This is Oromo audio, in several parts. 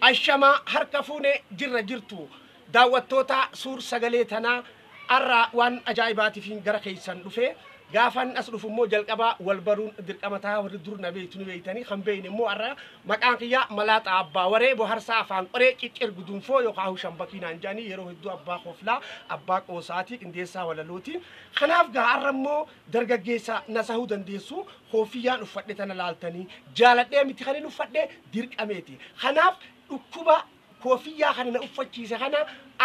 Ashamaa harka fuune jirra jirtu daawwattoota suur sagalee tanaa arraa waan ajaa'ibaatifiin gara keessan dhufe gaafan as dhufu immoo jalqabaa wal baruun dirqama tahaa warri dur na beektu ni beektanii kan beeyne immoo arraa maqaan kiyyaa malaaxa abbaa waree boharsaa afaan qoree ciccir gudunfoo yookaan hushan bakii naan jedhanii yeroo hedduu abbaa koflaa abbaa qoosaatii qindeessaa walalooti kanaaf gaa arra immoo dargaggeessa na sahuu dandeessu Kooffiyyaan uffadhe tana laaltanii jaaladhee miti kanin uffadhe dirqameeti. Kanaaf dhukkuba koofiyyaa kana na uffachiise kana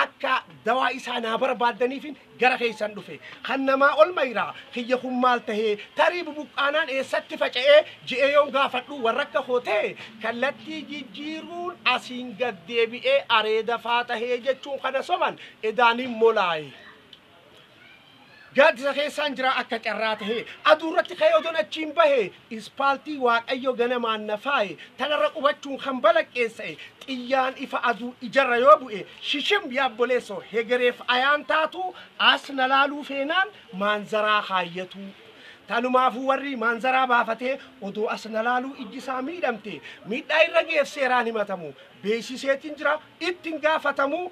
akka dawaa isaa naa barbaaddaniifin gara keessan dhufe. Kan namaa ol mayiraa kiyya kun maal tahee tarii bubuqqaanaan eessatti faca'ee je'ee yoon gaafadhu warra akka koo tahe kallattii jijjiiruun asiin gad deebi'ee areeda faa tahee jechuun kana soban edaaniin molaaye. Gaaddisa keessaan jira akka carraa tahee. Aduurratti ka'ee odoon achiin bahe, ispaaltii Waaqayyo ganamaan na faaye, tanarra qubachuun kan balaqqeessa'e, xiyyaan ifa aduu ijarra yoo bu'e, shishim yaabboleessoo hegereef ayaan taatuu, as na laaluu feenaan maanzaraa kaayyatuu. Tanumaafuu warri maanzaraa baafatee odoo as na laaluu ijji isaa miidhamte, miidhaa irra ga'eef seeraan himatamu, beeksiseetiin jira, ittin gaafatamuu,